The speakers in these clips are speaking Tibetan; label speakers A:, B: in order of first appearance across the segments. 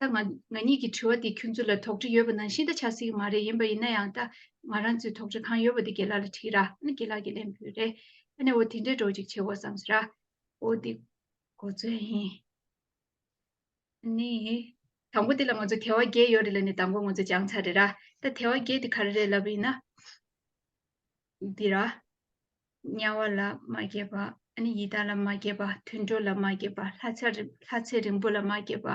A: ད་ང་ང་གཉིས་ཀྱི་དྲི་བ་འདི་ཁྱོད་ཚོ་ལ་དོགས་འདྲི་ཡོད་པ་ནང་བཞིན་ད་ཆགས་སྲིད་ཀྱི་མ་རེད་ཡིན་པ་ཡིན་ན་ཡང་ད་ང་རང་ཚོས་དོགས་འདྲི་གང་ཡོད་པ་དེ་དགེ་ལགས་ལ་དྲིས་ར་ཨ་ན་དགེ་ལགས་ཀྱིས་ལན་ཕུལ་རེད་ཨ་ནས་འོ་དེ་འདྲས་འགྲོ་ཅིག་བྱེད་དགོས་བསམ་ཟེར་ར་འོ་དེ་གོ་ཚོད་ཡིན་ཨ་ནས་དང་པོ་དེ་ལ་ང་ཚོ་དལ་བ་བརྒྱད་ཡོད་རེད་ལ་ནས་དང་པོ་ང་ཚོ་སྦྱང་ཚར་རེད་ར་ད་དལ་བ་བརྒྱད་དེ་ག་རེ་རེད་ལབ་པ་ཡིན་ན། འདི་ར། དམྱལ་བ་ལ་མ་སྐྱེས་པ། ནི་ཡི་དྭགས་ལ་མ་སྐྱེས་པ། དུད་འགྲོ་ལ་མ་སྐྱེས་པ། ལྷ་ཚ། ལྷ་ཚེ་རིང་པོ་ལ་མ་སྐྱེས་པ།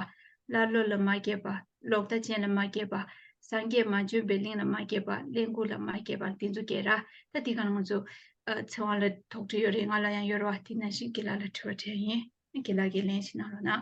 A: ཀླ་ཀློ་ལ་མ་སྐྱེས་པ། ལོག་ལྟ་ཅན་ལ་མ་སྐྱེས་པ། སངས་རྒྱས་མ་བྱོན་པའི་གླིང་ལ་མ་སྐྱེས་པ། གླེན་ལྐུགས་ལ་མ་སྐྱེས་པ། འདི་ཚོ་སྐྱེ་ར། ད་འདི་གང་ལ་ང་ཚོ། ཚེ་དབང་ལ་དོགས་འདྲི་ཡོད་རེད་ང་ལ་ཡང་ཡོད་ར་བ། དེ་ནང་བཞིན་དགེ་ལགས་ལ་དྲི་བ་དྲན་ཡིན། དགེ་ལགས་ཀྱིས་ལན་ཞིག་གནང་རོགས་གནང།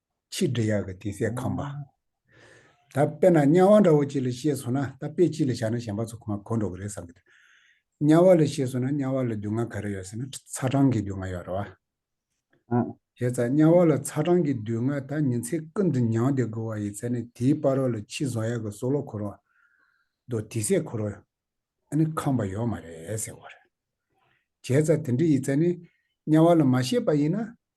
B: ཕྱིས་འབྲི་གཡག་གི་དེ་ཚད་ཁམས་པ། ད་དཔེར་ན་དམྱལ་བ་འདྲ་བོ་ཅིག་ལ་ཤེས་སོང་ན་ད་དཔེ་གཅིག་ལ་བཞག་ན་གཞན་པ་ཚོ་ཁོ་མ་གོ་འགྲོ་གི་རེད་བསམ་གི་འདུག་དམྱལ་བ་ལ་ཤེས་སོང་ན་དམྱལ་བ་ལ་སྡུག་བསྔལ་ག་རེ་ཡོད་ཟེར་ན་ཚ་གྲང་གི་སྡུག་བསྔལ་ཡོད་རེད་བ། བྱས་ཙང་དམྱལ་བ་ལ་ཚ་གྲང་གི་སྡུག་བསྔལ་ད་ཉིན་ཚེ་ཀུན་ཏུ་མྱང་བསྡད་དགོས་བ་ཡིན་ཚེ་ནི་དེའི་དཔའ་རོགས་ལ་ཕྱིས་བཟང་ཡག་གི་སྲོག་ལོ་འཁོར་བ། མདོ་དེ་ཚད་འཁོར་བ། ཨ་ནི་ཁམས་པ་ཡོད་མ་རེད་ཟེར་བ་རེད། བྱས་ཙང་དེ་འདྲ་ཡིན་ཚེ་ནི་དམྱལ་བ་ལ་མ་ཤེས་པ་ཡིན་ན་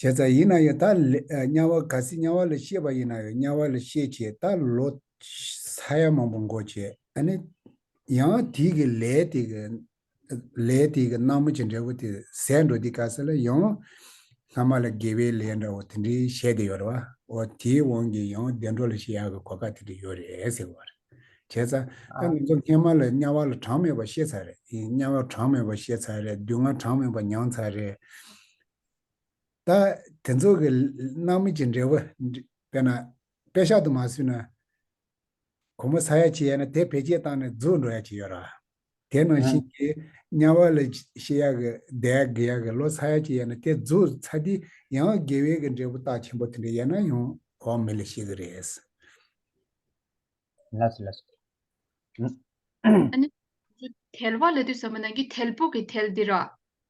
B: བྱས་ཙང་ཡིན་ན་ཡང་དག་ལས་དམྱལ་བ་ག་སྲིད་དམྱལ་བ་ལ་ཤེས་པ་ཡིན་ན་ཡང་དམྱལ་བ་ལ་ཤེས་བྱས་ད་ལོ་ས་ཡ་མང་པོ་འགོ་བྱས་ནས་ཡང་དེ་གི་ལས་དེ་གི་ལས་དེ་གི་སྣང་མ་ཅི་འདྲ་བོ་དེ་ཟད་འགྲོ་དེ་ག་ས་ལ་ཡང་སྔ་མ་ལ་དགེ་བའི་ལས་འདྲ་བོ་དེ་འདྲའི་བཤད་དེ་ཡོད་རེད་བ་འོ་དེའི་དབང་གིས་ཡང་བདེ་འགྲོ་ལ་ཤེས་ཡག་གི་གོ་སྐབས་དེ་འདྲ་ཡོད་རེད་ཟེར་བ་རེད། བྱས་ཚར། ད་ང་ཚོ་སྔས་མ་ལ་དམྱལ་བ་ལ་གྲངས་མེད་པ་ཤེས་ཚར་རེད། དམྱལ་བ་གྲངས་མེད་པ་ཤེས་ཚར་རེད། སྡུག་བསྔལ་གྲངས་མེད་པ་མྱངས་ཚར་རེད། ད་དེ་ཚོ་གི་སྣང་མེད་ཀྱི་འབྲས་བུ་དཔེར་ན། དཔེ་ཤག་ཏུ་མ་བཟོས་ན། གོང་མ་ས་ཡ་བྱེ་ཡས་ན་དེ་བེད་སྤྱད་བཏང་ནས་རྫོགས་འགྲོ་ཡ་བྱེད་ཡོད་ར། དེ་ནང་བཞིན་གྱི་དམྱལ་བ་ལ་ཤི་ཡག་གི་བདེ་ཡག་དགེ་ཡག་གི་ལོ་ཚ་ཡག་ཅིག་ཡ་ན་དེ་རྫུ་ཚ་དེ་ཡང་དགེ་བས་ཀྱི་འབྲས་བུ་རྟགས་ཆེན་པོ་དེ་འདྲ་ཡ་ན་ཡང་བག་མེད་ལ་ཤི་གི་རེད། ཨ་ནི།
A: དལ་བ་ལ་དུས་ཟ་མ་ནང་གི་དལ་བུ་གི་དལ་དེ་ར།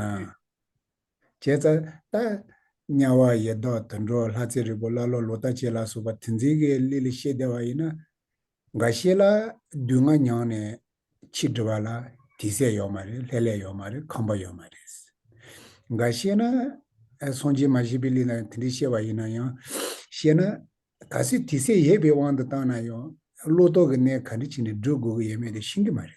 B: ཨ། བྱས་ཙྪ་ཏ། དམྱལ་བ་ཡེ་བཟློག་དུད་འགྲོ་ལྷ་རྩེ་རིལ་པོ་ཀླ་ཀློ་ལོ་ལྟ་བྱེད་ལ་སོགས་པ་དེ་འཛིན་གྱི་གླེ་ལས་ཤེས་བདེ་བ་ཡིན་ན། འགའ་ཤས་ལ་བདུད་ལྔ་མྱང་ནས་ཕྱིས་འབྲི་བ་ལ་དེ་ཟས་ཡོད་མ་རེད་ལྷད་ལས་ཡོད་མ་རེད་ཁང་པ་ཡོད་མ་རེད། འགའ་ཤས་ན། སངས་རྒྱས་མ་ཤེས་པའི་གླེ་ལ་དེ་འདྲས་ཤེས་བ་ཡིན་ན་ཡང། ཤེས་ན། ད་གཟོད་དེ་ཟས་ཡོད་པའི་དབང་དུ་བཏང་ན་ཡང་བློ་ལྟོག་གི་གནས་ག་འདྲི་བྱས་ནས་བསྒྲུབ་དགོས་ཀྱི་ཡོད་མེད་དེ་ཤེས་ཀྱི་མ་རེད།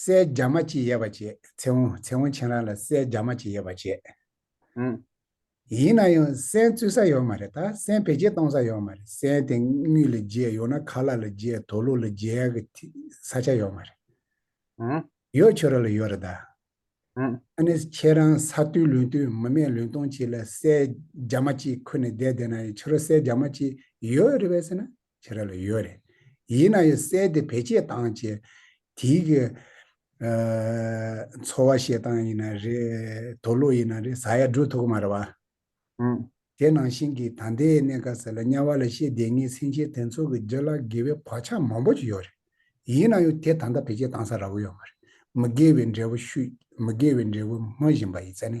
B: སའི་རྒྱ་མ་ཅི་ཡས་པ་བྱེད། ཚེ་འོང་ཚེ་འོང་བྱེད་རང་ལ་སའི་རྒྱ་མ་ཅི་ཡས་པ་བྱེད། ཧཱུྃ།
C: ཡིན་ན་
B: ཡང་སའི་བཙོས་ས་ཡོད་མ་རེད་ད་སའི་བེད་སྤྱད་གཏོང་ས་ཡོད་མ་རེད་སའི་དེ་དངུལ་ལ་བརྗེས་ཡོང་ན་ཁ་ལག་ལ་བརྗེས་དོ་ལུག་ལ་བརྗེས་གི་ཐི་ས་ཆ་ཡོད་མ་རེད། ཧཱུྃ།
C: ཡོད་ཁྱོད་ར་ལ་ཡོད་
B: རེད་ད། ཧཱུྃ། ཨ་
C: ནི་ཁྱེད་རང་
B: ས་རྟུལ་ལུང་རྟུལ་མི་མེད་ལུང་སྟོང་བྱེད་ལ་སའི་རྒྱ་མ་ཅི་ཁུར་ནས་བསྡད་བསྡད་ན་ཡང་ཁྱོད་ར་སའི་རྒྱ་མ་ཅི་ཡོད་རེད་བས་ཟེར་ན། བྱེད་ར་ལ་ཡོད་རེད། ཡིན་ན་ཡང་བསལ་ཏེ་བེད་སྤྱད་བཏང་བྱས། དེའི་གི། འཚོ་བ་བཤད་སྟངས་ཡིན་ན་རེད། དོ་ལུགས་ཡིན་ན་རེད་ཟ་ཡ་འགྲོ་ཐུག་གི་མ་རེད་བ།
C: དེ་ནང་བཞིན་གི་
B: ད་ལྟའི་གནད་ཀ་ཟེར་ལ་དམྱལ་བ་ལ་ཤེས་ལྡན་ངའི་སེམས་ཅན་དེ་ཚོ་གི་རྒྱུ་ལ་དགེ་བའི་བག་ཆགས་མང་པོ་ཅིག་ཡོད་རེད། ཡིན་ན་ཡང་དེ་ད་ལྟ་བེད་སྤྱད་བཏང་ས་ར་བོ་ཡོད་མ་རེད། མི་དགེ་བའི་འབྲས་བུ་ཤུས། མི་དགེ་བའི་འབྲས་བུ་སྨོས་བཞིན་པ་ཡིན་ཚད་ནི།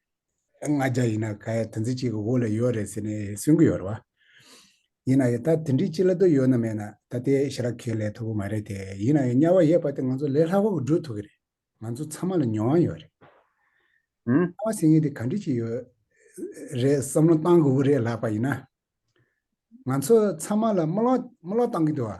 B: ལྔ་བརྒྱ་ཡིན་ན་ག་ཡ་དོན་ཚན་གཅིག་གི་དབུ་ལ་ཡོད་རེད་ཟེར་ནས་གསུང་གི་ཡོད་རེད་བ། ཡིན་ན་ཡང་ད་དེ་འདྲའི་སྤྱི་ལ་དོ་ཡོད་ན་མེད་ན་ད་ལྟའི་ཞི་ར་ཁེ་ལས་ཐོབ་གི་མ་རེད་དེ་ཡིན་ན་ཡང་དམྱལ་བ་ཡས་པ་དེ་ང་ཚོ་ལས་ལྷག་པ་གི་འགྲོ་ཐུབ་གི་རེད་ང་ཚོ་ཚང་མ་ལ་མྱོང་བ་ཡོད་རེད།
C: ཨང། ལྟ་བ་ཟེར་ངེས་དེ་ག་
B: འདྲི་ཅིག་ཡོད་རེད་བསམ་བློ་གཏང་དགོས་གི་རེད་ལགས་པ་ཡིན་ན། ང་ཚོ་ཚང་མ་ལ་དམུ་ལོག་དམུ་ལོག་གཏང་གི་འདུག་བ།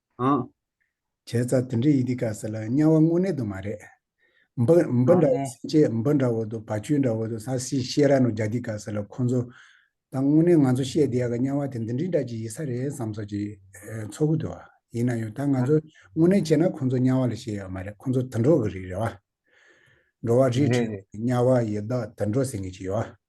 C: ཨང། བྱས་ཙང་
B: དེ་འདྲའི་ཡི་གེ་དཀའ་ཟེར་ལ་དམྱལ་བ་དངོས་གནས་དུ་མ་རེད། འབུ་འབུ་འདྲ་བོ་སྲིན་སྐྱེས་
C: འབུ་འདྲ་བོ་དུ་
B: བ་ཆུ་འདྲ་བོ་དུ་ས་སྲིད་ཤེས་ར་ནོ་རྒྱ་དི་དཀའ་ཟེར་ལ་ཁོང་ཚོ། ད་དངོས་གནས་ང་ཚོ་བཤད་བསྡད་ག་དམྱལ་བ་དེ་འདི་འདྲི་འདྲ་གྱི་ཡི་ས་རེད་བསམ་ཚོ་གྱི་ཚོ་གུ་དུ་བ། ཡིན་ན་ཡང་ད་ང་ཚོ་དངོས་གནས་བྱས་ན་ཁོང་ཚོ་དམྱལ་བ་ལ་བཤད་ཡག་མ་རེད་ཁོང་ཚོ་དུད་འགྲོ་གི་རིགས་རེད་བ། འགྲོ་བ་རིས་ཁྲིད་འགྲོ་བ་ཡི་
C: དག་
B: དུད་འགྲོ་ཟེར་ངེས་ཀྱི་ཡོད་བ།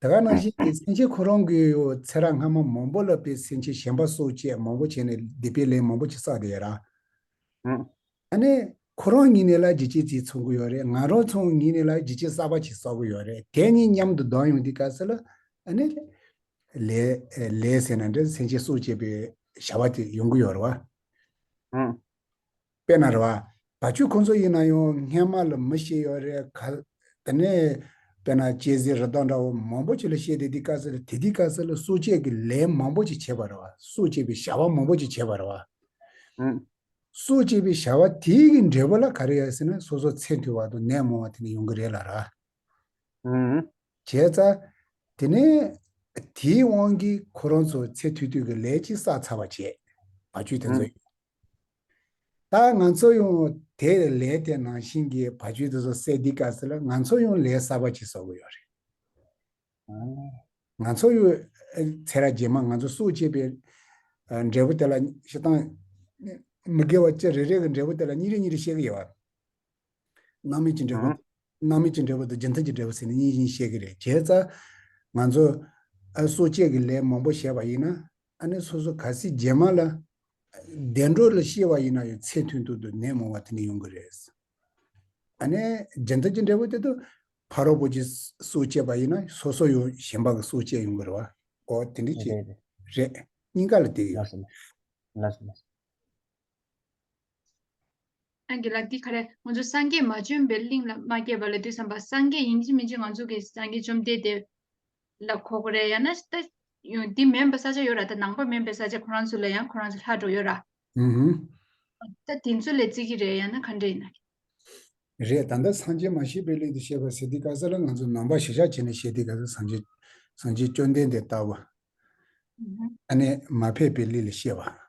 C: དེ་ག་ནང་བཞིན་
B: གྱི་སེམས་ཅན་ཁོ་རང་གི་ཚེ་རགས་སྔ་མ་མང་པོ་བསླབ་པའི་སེམས་ཅན་གཞན་པ་སོ་བཅས་མང་པོ་བྱས་ནས་སྡིག་པའི་ལས་མང་པོ་ཅིག་བསགས་དེ་ར། ད་
C: ནི་
B: ཁོ་རང་ཉིད་ནས་ལ་རྒྱི་ཅི་ཅིག་འཚོང་གི་ཡོད་རེད་ང་རང་ཚོ་ཉིད་ནས་ལ་རྒྱི་ཅི་གསར་པ་ཅིག་བསགས་གི་ཡོད་རེད་དེ་གཉིས་མཉམ་དུ་ལྡང་ཡོང་དེ་ག་ཟེར་ལ་ནི། ལས་ལས་ཟེར་ན་འདྲ་སེམས་ཅན་སོ་བཅས་པའི་བྱ་བ་དེ་ཡོང་གི་ཡོད་རེད་བ།
C: དཔེར་ན་
B: རེ་བ་བ་ཆུ་ཁོ་ཚོ་ཡིན་ན་ཡང་སྔས་མ་ལ་མི་ཤེས་ཡོད་རེད་ག་ལ། དེ་ནས་དཔེར་ན་སྐྱེས་ཟེར་རི་དྭགས་འདྲ་བོ་མང་པོ་ཆེ་ལ་ཤེས་དེ་དེ་ཀ་ཟེར་དེ་དེ་ཀ་ཟེར་ལ་སྲོག་བཅད་ཀྱི་ལས་མང་པོ་ཅིག་བྱེད་པ་རེད་བ་སྲོག་བཅད་པའི་བྱ་བ་མང་པོ་ཅིག་བྱེད་པ་རེད་བ།
C: སྲོག་བཅད་
B: པའི་བྱ་བ་དེའི་འབྲས་བུ་ལ་ག་རེ་ཡོད་ཟེར་ན་སོ་སོ་ཚེ་མཐོའི་བར་དུ་ནད་མང་བ་དེ་འདྲ་ཡོང་གི་རེད་ལ་ར།
C: ཨང། བྱས་ཙང།
B: དེ་ནས། དེའི་དབང་གིས་ཁོ་རང་ཚོ་ཚེ་དུས་དུས་ཀྱི་ལས་ཅིག་བསགས་ཚར་བ་བྱས། བ་ཆུ་དེ་ཚོ། ད་ང་ཚོ་ཡང་དེ་ལས་དེ་ནང་བཞིན་གྱི་བ་ཆུ་དེ་ཚོ་བསད་འདི་ག་ཟེར་ལ་ང་ཚོ་ཡང་ལས་གསར་བ་ཅིག་བསགས་གི་ཡོད་རེད། ཨང། ང་ཚོ་ཡོད། ཚེ་ར་རྗེས་མ་ང་ཚོ་སྲོག་བཅད་པའི། འབྲས་བུ་དེ་ལ། ཤི་སྟངས། མི་དགེ་བ་ཅི་རེ་རེ་གི་འབྲས་བུ་དེ་ལ་གཉིས་རེ་གཉིས་རེ་བཤད་གི་ཡོད། སྣང་མེད་ཀྱི་འབྲས་བུ་དང། སྣང་མེད་ཀྱི་འབྲས་བུ་དང་རྗེས་མཐུན་གྱི་འབྲས་བུ་ཟེར་ནས་གཉིས་གཉིས་བཤད་ཀྱི་རེད་བྱས་ཙང། ང་ཚོ། ཨ་གསོ་དཔྱད་ཀྱི་ལས་མང་པོ་བྱས་པ་ཡིན་ན། ཨ་ནི་སོ་སོ་ག་སྲིད་རྗེས་མ་ལ། བདེ་འགྲོ་ལ་ཤེས་པ་ཡིན་ན་ཡང་ཚེ་མཐུན་དུ་དུ་ནད་མང་བ་དེ་འདྲ་ཡོང་གི་རེད། ཨ་ནི་རྗེས་མཐུན་གྱི་འབྲས་བུ་དེ་དུ། ཕ་རོལ་པོ་ཆེ་གསོ་དཔྱད་པ་ཡིན་ན་སོ་སོ་ཡང་གཞན་པ་གི་གསོ་དཔྱད་ཡོང་གི་རེད་བ། ཨོ་དེ་འདྲ་ཞིག་རེད། རེད། གཉིས་ཀ་ལ་དེ་ཡོད།
A: ཨན་གྱི་ལགས་འདི་ག་རེ་ང་ཚོ་སངས་རྒྱས་མ་བྱོན་པའི་གླིང་ལ་མ་སྐྱེས་པ་ལ་འདུས་སམ་པ་སངས་རྒྱས་ཡིན་གྱི་མིན་གྱི་ང་ཚོ་གི་སངས་རྒྱས་བཅོམ་ལྡན་འདས་ལ་གོ་གི་རེད་ཡང་ན་ལྟ་འདི་མེན་པ་ས་ཆ་ཡོད་ར་ད་ནང་པ་མེན་པའི་ས་ཆ་ཁོ་རང་ཚོ་ལ་ཡང་ཁོ་རང་ཚོ་ལྷ་འགྲོ་ཡོད་ར། ལྟ་དེ་ཚོ་ལས་བརྩི་གི་རེད་ཡང་ན་ག་འདྲ་ཡིན།
B: རེད་ད་ལྟ་སངས་རྒྱས་མ་ཤེས་པའི་གླིང་དུ་བཤད་པ་སེ་ཏི་ཀ་ས་ལ་ང་ཚོ་ནང་པ་ཞེ་ཞག་བྱེད་ནས་བཤད་ཏི་ཀ་ས་སངས་རྒྱས་སངས་རྒྱས་བཅོམ་ལྡན་འདས་ལྟ་བ། ཨ་ནས་མ་ཕེབས་པའི་གླིང་ལ་བཤད་པ།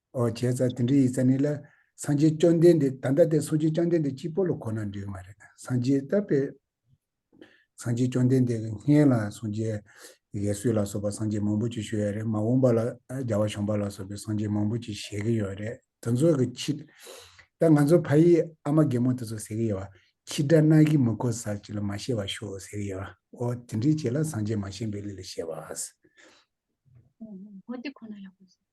B: ཨོ་བྱས་ཙ་དེ་འདྲའི་ཡིག་ཙ་ནི་ལ། སངས་རྒྱས་བཅོམ་ལྡན་འདས་ད་ལྟ་དེ་སོ་ཅི་བཅོམ་ལྡན་འདས་གཅིག་པོ་ལ་གོ་ན་འགྲིག་མ་རེད་སངས་རྒྱས་ད་པས། སངས་རྒྱས་བཅོམ་ལྡན་འདས་ཀྱི་སྔས་ལ་སོ་ཇའི། ཡས་སུས་ལ་སོགས་པ་སངས་རྒྱས་མང་པོ་ཅིག་ཞུ་ཡ་རེད་མ་འོངས་པ་ལ་རྒྱལ་བ་བྱོན་པ་ལ་སོགས་པའི་སངས་རྒྱས་མང་པོ་ཅིག་བཞེས་ཀྱི་ཡོད་རེད་དེ་ཚོ་གི་ཁྱི། ད་ང་ཚོ་ཕ་ཡིས་ཨ་མ་རྒན་མོ་དེ་ཚོ་ཟེར་གྱི་ཡོད་བ། ཁྱི་དགྲ་རྣག་གིས་མི་ཁོ་ཟ་ཅིག་ལ་མ་ཤེས་བ་ཤོག་ཟེར་གྱི་ཡོད་བ་ཨོ་དེ་འདྲའི་བྱས་ལ་སངས་རྒྱས་མ་བྱན་པའི་ལུས་ལ་བཤད་
A: པ།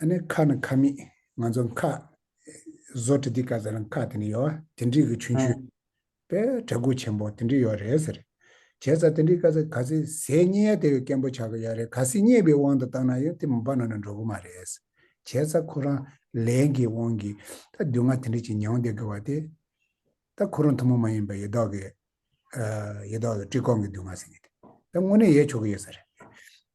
B: ཨ་ནི་ཁ་ནི་ཁ་མིག་ང་ཚོ་མཁའ། བཟོ་དྲི་དི་ཀ་ཟེར་མཁའ་དེ་ནི་ཡོ་བ་དེ་འདྲི་གི་ཆུན་ཆུན། པའི་གྲ་གུ་ཆེན་པོ་དེ་འདྲི་ཡོ་རེད་ཟེར། བྱས་ཙ་དེ་འདྲི་ཀ་ཟེ་ག་ཟེ་ཟས་རྙེད་ཡ་དེ་ཡོ་སྐན་པོ་ཆག་གི་ཡ་རེད་ག་ཟེ་རྙེད་པའི་དབང་དུ་བཏང་ན་ཡོ་དེ་མུ་པ་ན་ན་འགྲོ་གི་མ་རེད། བྱས་ཙ་ཁོ་རང་ལས་ཀྱི་དབང་གི་ད་སྡུག་བསྔལ་དེ་འདྲི་ཅིག་མྱོང་བསྡད་གི་བ་དེ། ད་ཁོ་རང་ཐུན་མོང་མ་ཡིན་པ་ཡེ་དོག་གི། ཡེ་དོག་ལ་བཀྲི་སྐོང་གི་སྡུག་བསྔལ་ཟེར་གི་དེ། ད་དངོས་གནས་ཡས་ཆོག་གི་ཡོད་ས་རེད།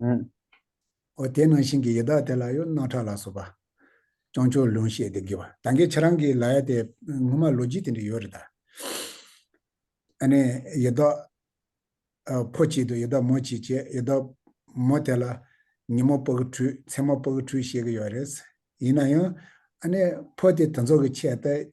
B: ཨེ། འོ་དེ་ནང་བཞིན་གྱི་ཡི་དྭགས་དེ་ལ་གཡོ་སྣ་ཁྲག་ལ་སོགས་པ། སྤྱང་ཕྱུར་ལུང་བཤད་དེ་བགྱི་བ་ད་གིན་ཁྱེད་རང་གིས་ལ་ཡ་དེ་སྔོན་མ་ལོ་རྒྱུས་དེ་འདྲ་ཡོད་རེད་ད། ཨ་ནི་ཡི་དྭགས། ཕོ་གཅིག་ཏུ་ཡི་དྭགས་མོ་གཅིག་བྱས་ཡི་དྭགས། མོ་དེ་ལ། ཉིན་མོ་པགས་ཁྲུས་མཚན་མོ་པགས་ཁྲུས་བཤད་གི་ཡོད་རེད། ཡིན་ན་ཡང། ཨ་ནི་ཕོ་དེ་དེ་ཚོ་གི་ཆེད་ལྟ།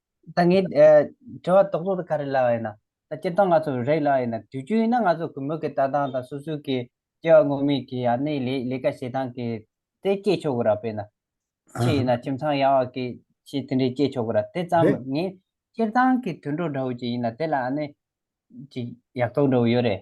C: ད་ངས་དྲི་བ་ཏོག་ཏོག་དེ་ག་རེ་ལབ་ཡིན་ན། ད་སྤྱིར་བཏང་ང་ཚོ་རེག་ལབ་ཡིན་ན་དུས་རྒྱུན་ཡིན་ན་ང་ཚོ་གུས་མོས་ཀྱི་ལྟ་སྟངས་དང་སོ་སོའི་ཀྱི་སྐྱེ་བ་སྔོན་མའི་ཀྱི་ཡང་ནི་ལས་ལས་ཀ་བྱེད་སྟངས་ཀྱི་དེ་སྐྱེས་ཆོག་གི་ར་དཔེར་ན། ཕྱི་ཡིན་ན་ཁྱིམ་ཚང་ཡག་བ་ཀྱི་ཕྱི་དེ་འདྲའི་སྐྱེས་ཆོག་གི་ར་དེ་ཙམ་རེད། ངས་སྤྱིར་བཏང་གི་དུད་འགྲོ་འདྲ་བོ་ཅིག་ཡིན་ན་དེ་ལ་ཡང་ནི་ཅིག་ཡག་ཐོག་འདྲ་བོ་ཡོད་རེད།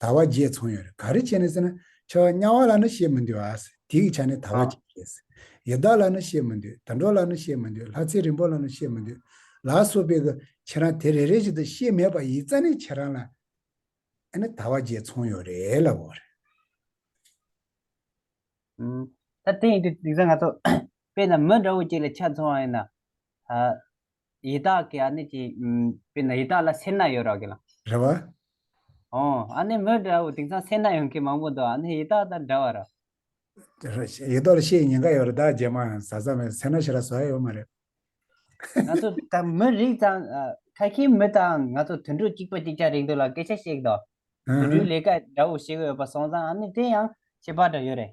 B: ཟླ་བ་བརྒྱད་ཚོང་ཡོད་རེད་ག་རེ་བྱས་ནས་ཟེར་ན། ཆོས་དམྱལ་བ་ལ་ནི་བཤད་མི་འདོད་ཨཱ། དེ་གི་ཆ་ནས་ད་བ་བརྒྱད་བྱས་ཟེར། ཡི་དྭགས་ལ་ནི་བཤད་མི་འདོད་དུད་འགྲོ་ལ་ནི་བཤད་མི་འདོད་ལྷ་ཚེ་རིང་པོ་ལ་ནི་བཤད་མི་འདོད། ལ་སོགས་པའི་གི་ཁྱེད་རང་དེ་རེ་རེ་བཞིན་དུ་བཤད་མེད་པ་ཡིད་རྩ་ནས་ཁྱེད་རང་ལ། ཨཱ་ནི་ད་བ་བརྒྱད་ཚོང་ཡོད་རེད་ལ་བོ་རེད། ད་དེ་ཡིན་དུས་དེང་སང་ང་
C: ཚོ་དཔེ་ན་མི་འདྲ་བོ་ཅིག་ལ་ཆ་འཚོང་བ་ཡིན་ན། ཡི་དྭགས་ཀྱི་ཨ་ནི་ཀྱི། དཔེར་ན་ཡི་དྭགས་ལ་སེར་སྣ་ཡོད་རག་གི་ལ། རེ་བ། ཨོ།
B: ཨ་
C: ནི་མི་འདྲ་བོ་དེང་སང་སེར་སྣ་ཡོང་མཁན་མང་པོ་འདུག་ཨ་ནི་ཡི་དྭགས་དང་འདྲ་བ་ར།
B: ཡི་དྭགས་ལ་ཤའི་ཉེན་ཁ་ཡོད་ར་བདག་རྗེས་མ་ཡང་བཟའ་ཚར་བས་སེར་སྣ་ཞེ་ར་བཟའ་ཡོད་མ་རེད། ང་
C: ཚོ་དང་མི་རིགས་དང། ཁ་ཁྱིའི་མི་དང་ང་ཚོ་དུད་འགྲོ་གཅིག་པ་གཅིག་ཆ་རེད་འདུག་ལ་སྐད་ཆ་བཤད་གི་འདུག་དུད་འགྲོའི་ལས་ཀ་འདྲ་བོ་བྱེད་གི་ཡོད་པ་སོང་ཙང་ཨ་ནི་དེ་ཡང་ཁྱད་པར་འདྲ་ཡོད་རེད།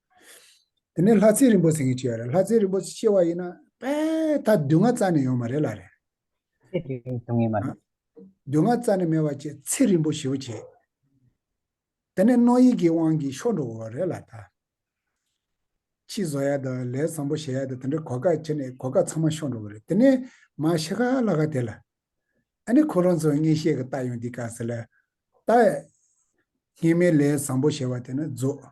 B: དེ་ནས་ལྷ་ཚེ་རིན་པོ་ཆེ་ངས་ཅི་ཡོད་རེད་ལྷ་ཚེ་རིན་པོ་ཆེ་ཆེ་བ་ཡིན་ན་དཔལ་ད་བསྡུ་ང་རྩ་ནས་ཡོང་མ་རེད་ལ་རེད། ཚེ་དེ་རིང་
C: བྱུང་ངེས་མ་རེད། བསྡུ་
B: ང་རྩ་ནས་མེད་བ་བཅས་ཚེ་རིན་པོ་ཞེ་བོ་བྱས། དེ་ནས་རྣོ་ཡིག་གི་དབང་གིས་ཤོར་འགྲོ་གི་བ་རེད་ལ་ད། ཕྱིས་བཟོ་ཡ་དང་ལས་བཟང་པོ་བྱེད་ཡ་དང་དེ་འདྲ་གོ་སྐབས་བྱས་ནས་གོ་སྐབས་ཚང་མ་ཤོར་འགྲོ་གི་རེད་དེ་ནས་མ་ཤི་ཁ་ལ་ཁ་དེ་ལ། ཨ་ནི་ཁོ་རང་ཚོའི་ངས་བཤད་གི་ལྟ་ཡོང་འདི་ག་ཟེར་ལ། ད། ངེད་མི་ལས་བཟང་པོ་བྱེད་བ་དེ་ནི་རྫོགས།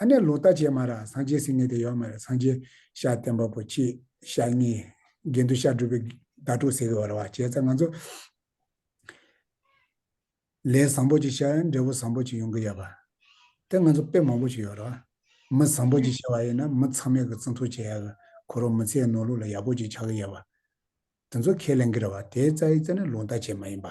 B: ཨ་ནེ་ལོ་ལྟ་བྱེད་མ་ར་སངས་རྒྱས་སིང་ངེ་དེ་ཡོག་མ་ར་སངས་རྒྱས་ཤ་བསྟན་པ་པོ་ཁྱི་ཤ་གཉིས་རྒན་དུ་ཤ་སྒྲུབ་པའི་ཟླ་དྲུག་ཟེར་གི་བ་ར་བ་བྱས་ཚ་ང་ཚོ་ལས་བཟང་པོ་ཅིག་ཤ་འབྲས་བུ་བཟང་པོ་ཅིག་ཡོང་གི་ཡོག་པ་དེ་ང་ཚོ་དཔེ་མང་པོ་ཅིག་ཡོག་ར་བ་མི་བཟང་པོ་ཅིག་ཤ་བ་ཡིན་ན་མི་ཚང་མས་གི་བརྩི་མཐོ་བྱེད་ཡག་གི་ཁོ་རོ་མི་ཚེའི་ནོར་ལུག་ལ་ཡག་པོ་ཅིག་ཆགས་གི་ཡོག་པ་དེ་ཚོ་ཁས་ལེན་གི་ར་བ་དེའི་རྩ་ཡིག་རྩ་ནི་ལོ་ལྟ་བྱེད་མ་ཡིན་པ།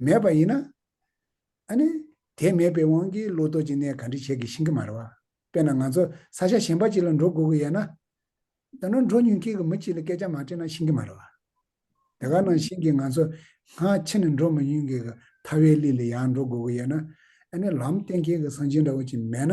B: མེད་པ་ཡིན་ན། ཨ་ནི། དེ་མེད་པའི་དབང་གིས་བློ་དོར་གྱི་གནས་ག་འདྲི་བྱེད་དགེ་ཤིང་གི་མ་རེད་བ། དཔེར་ན་ང་ཚོ་ས་ཆ་གཞན་པ་གཅིག་ལ་འགྲོ་དགོས་ཀྱི་ཡོད་ན། ད་ནོར་འགྲོ་ཉུང་མཁན་གྱི་མི་གཅིག་ལ་སྐད་ཆ་མ་དྲིས་ན་ཤིང་གི་མ་རེད་བ། དེ་ག་ནང་བཞིན་གྱི་ང་ཚོ་སྔ་ཕྱི་ནས་འགྲོ་མི་ཉུང་གི་གི་ཐ་བའི་གླིང་ལ་ཡང་འགྲོ་དགོས་ཀྱི་ཡོད་ན། ཨ་ནི་ལམ་སྟོན་མཁན་གྱི་གསང་ཆེན་འདྲ་བོ་གཅིག་མེད་ན།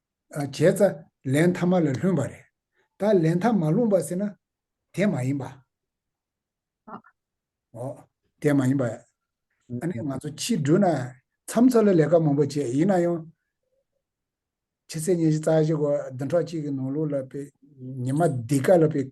B: བྱས་ཙྪ་ལན་མཐའ་མ་ལ་ལྷུན་པ་རེད། ད་ལན་མཐའ་མ་ལྷུང་བ་ཟེར་ན། དེ་མ་ཡིན་པ། ཨོ། ཨོ། དེ་མ་ཡིན་པ། ཨ་ནི་ང་ཚོ་ཕྱི་དྲུག་ན་མཚམས་འཚོ་ལ་ལས་ཀ་མང་པོ་བྱས་ཡིན་ན་ཡང། ཕྱི་ཚེས་ཉེར་བཞི་རྩ་བཞི་འགོ་བདུན་ཕྲག་གཅིག་གི་ནང་ལུགས་ལ་དཔེ། ཉི་མ་འདི་ག་ལ་དཔེ།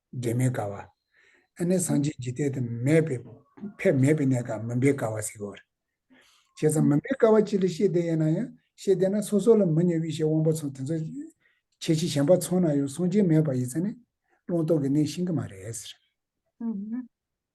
B: འབྲེལ་མེད་དགའ་བ། ཨེ་ནས་སངས་རྒྱས་ཀྱི་ལྟས་དུ་མས་པས་ཕས་མེད་པའི་གནས་དང་མུན་པའི་དགའ་བ་གཟིགས་འོ། བྱས་ཙང་མུན་པའི་དགའ་བ་ཅི་ལ་ཤེས་དེ་ཡན་ན་ཡང་ཤེས་དེ་ན་སོ་སོ་ལ་མི་གཉེར་དབྱེ་ཞིག་དབང་པོ་ཚང་དེ་ཚོ་ཁྱེད་ཀྱིས་གཞན་པ་ཚོང་ན་ཡང་སངས་རྒྱས་མེད་པ་ཡིན་ཚ་ནས་བློང་རྟོག་གི་གནས་ཤིང་གི་མ་རེད།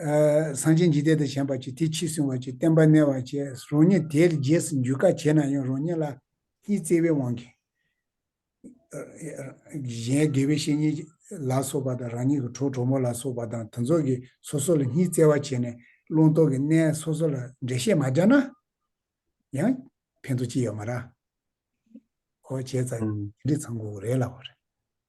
B: གསང་ཆེན་འཇིག་རྟེན་དང་བྱམས་པར་བྱེད་དེ་ཕྱིས་བསྲུང་བར་བྱེད་བསྟན་པ་གནས་བར་བྱེད་རང་ཉིད་དེའི་རྗེས་སུ་འཇུག་ག་བྱེད་ན་ཡང་རང་ཉིད་ལ་གཉིས་བརྩེ་བའི་དབང་གིས། གཞན་དགེ་བའི་བཤེས་གཉེན་ལ་སོགས་པ་དང་རང་ཉིད་ཀྱི་གྲོགས་གྲོགས་མོ་ལ་སོགས་པ་དང་དུ་ཚོགས་ཀྱིས་སོ་སོ་ལ་གཉིས་བརྩེ་བ་བྱས་ནས་བླང་དོར་གྱི་གནས་སོ་སོ་ལ་འགྲེལ་བཤད་མ་སྦྱར་ན་ཡང་ཕན་ཐོགས་ཅི་ཡོད་མ་ར། ཨོ་བྱས་ཙང་དེ་འདྲའི་ཚང་གོ་རེ་ལ་བ་རེ།